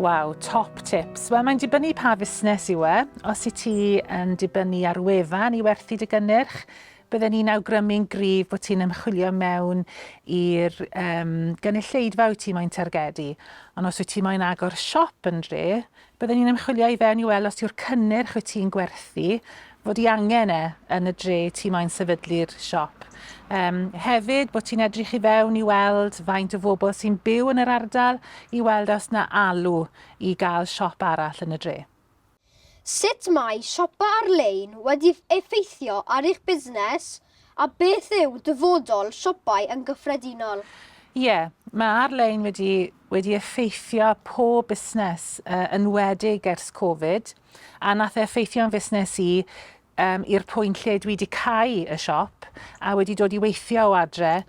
Waw, top tips. Wel, mae'n dibynnu pa fusnes yw e. Os i ti yn dibynnu ar wefan i werthu dy gynnyrch, bydden ni'n awgrymu'n gryf bod ti'n ymchwilio mewn i'r um, gynulleidfa wyt ti moyn targedu. Ond os wyt ti moyn agor siop yn dre, bydden ni'n ymchwilio i fewn i weld os yw'r cynnyrch wyt ti'n gwerthu fod i angen e yn y dre ti moyn sefydlu'r siop. Um, hefyd bod ti'n edrych i fewn i weld faint o fobl sy'n byw yn yr ardal i weld os na alw i gael siop arall yn y dre. Sut mae siopa ar-lein wedi effeithio ar eich busnes a beth yw dyfodol siopau yn gyffredinol? Ie, yeah, mae ar-lein wedi, wedi effeithio pob busnes uh, yn wedig ers Covid. A nath e effeithio'n fusnes i yym i'r pwynt lle dwi 'di cau y siop a wedi dod i weithio o adre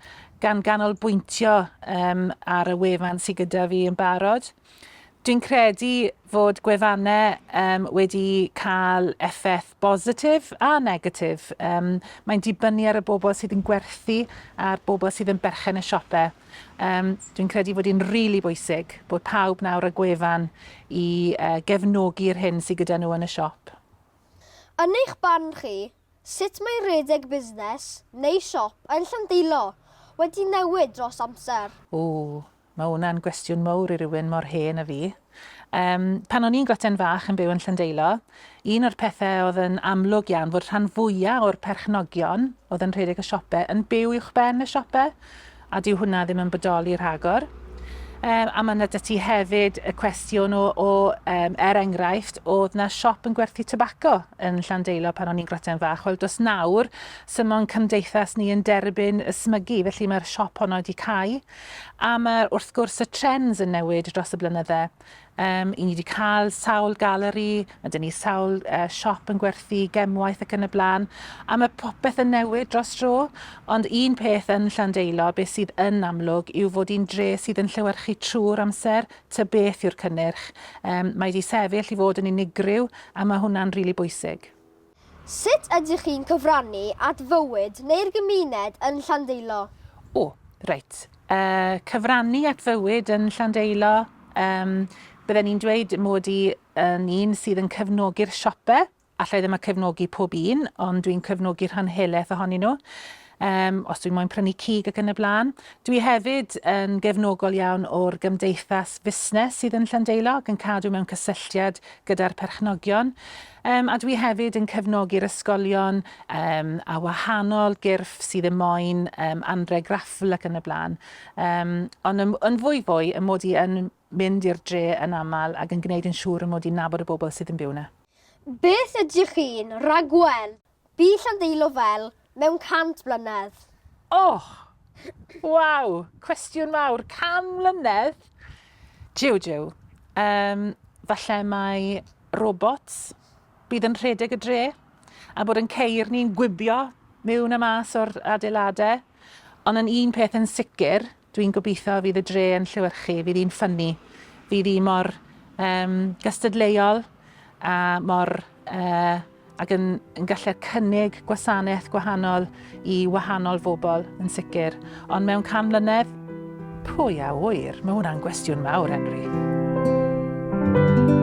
gan ganolbwyntio yym ar y wefan sy gyda fi yn barod. Dwi'n credu fod gwefanne um, wedi cael effaith bositif a negatif. Um, mae'n dibynnu ar y bobl sydd yn gwerthu a'r bobl sydd yn berchen y siopau. Yym, dwi'n credu fod hi'n rili bwysig bod pawb nawr â gwefan i gefnogi'r hyn sy gyda nhw yn y siop. Yn eich barn chi, sut mae rhedeg busnes, neu siop, yn Llandeilo wedi newid dros amser? Ww, mae hwnna'n gwestiwn mowr i rywun mor hen â fi. Yym, pan o'n i'n gwten fach yn byw yn Llandeilo, un o'r pethe o'dd yn amlwg iawn fod rhan fwya' o'r perchnogion o'dd yn rhedeg y siope yn byw uwchben y siope, a dyw hwnna ddim yn bodoli rhagor. Yym, a ma' 'na 'da ti hefyd y cwestiwn o o yym er enghraifft o'dd 'na siop yn gwerthu tybaco yn Llandeilo pan o'n i'n gwten fach, wel do's nawr, sim ond cymdeithas ni yn derbyn y smygu, felly ma'r siop honno 'di cau. A ma' wrth gwrs y trends yn newid dros y blynydde. Yym, 'yn ni 'di ca'l sawl galeri, ma' 'da ni sawl yy siop yn gwerthu gemwaith ac yn y bla'n, a ma' popeth yn newid dros dro. Ond un peth yn Llandeilo, be' sydd yn amlwg yw fod 'i'n dre sydd yn llewyrchu trw'r amser, ta beth yw'r cynnyrch. Yym, mae 'di sefyll i fod yn unigryw, a ma' hwnna'n rili bwysig. Sut ydych chi'n cyfrannu at fywyd neu'r gymuned yn Llandeilo? O, reit. Yy, cyfrannu at fywyd yn Llandeilo, yym, bydden i'n dweud mod i yn un sydd yn cefnogi'r siope, alla i ddim a cefnogi pob un, ond dwi'n cefnogi rhan helaeth ohonyn nhw. Yym, os dwi'n moyn prynu cig ac yn y blaen. Dwi hefyd yn gefnogol iawn o'r gymdeithas fusnes sydd yn Llandeilo ac yn cadw mewn cysylltiad gyda'r perchnogion. Yym, a dwi hefyd yn cefnogi'r ysgolion yym, a wahanol gyrff sydd yn moyn yym, anreg raffl ac yn y blaen. Yym, ond yn, yn fwy fwy, y mod i yn mynd i'r dre yn aml ac yn gwneud yn siŵr y mod i'n nabod y bobl sydd yn byw 'na. Beth ydych chi'n rhagweld Bu Llanddeilo fel mewn 100 mlynedd. Och! Waw! Cwestiwn mawr. 100 mlynedd? Jiw, jiw. Yym, falle mai robots bydd yn rhedeg y dre, a bod yn ceir ni'n gwibio miwn a mas o'r adeiladau. Ond yn un peth yn sicr, Dwi'n gobeithio fydd y dre yn llewyrchu, fydd hi'n ffynnu, fydd hi mor um, gystadleuol a mor uh, ac yn, yn gallu cynnig gwasanaeth gwahanol i wahanol fobl yn sicr. Ond mewn can mlynedd, pwy a wyr, mae hwnna'n gwestiwn mawr, Henry. Thank you.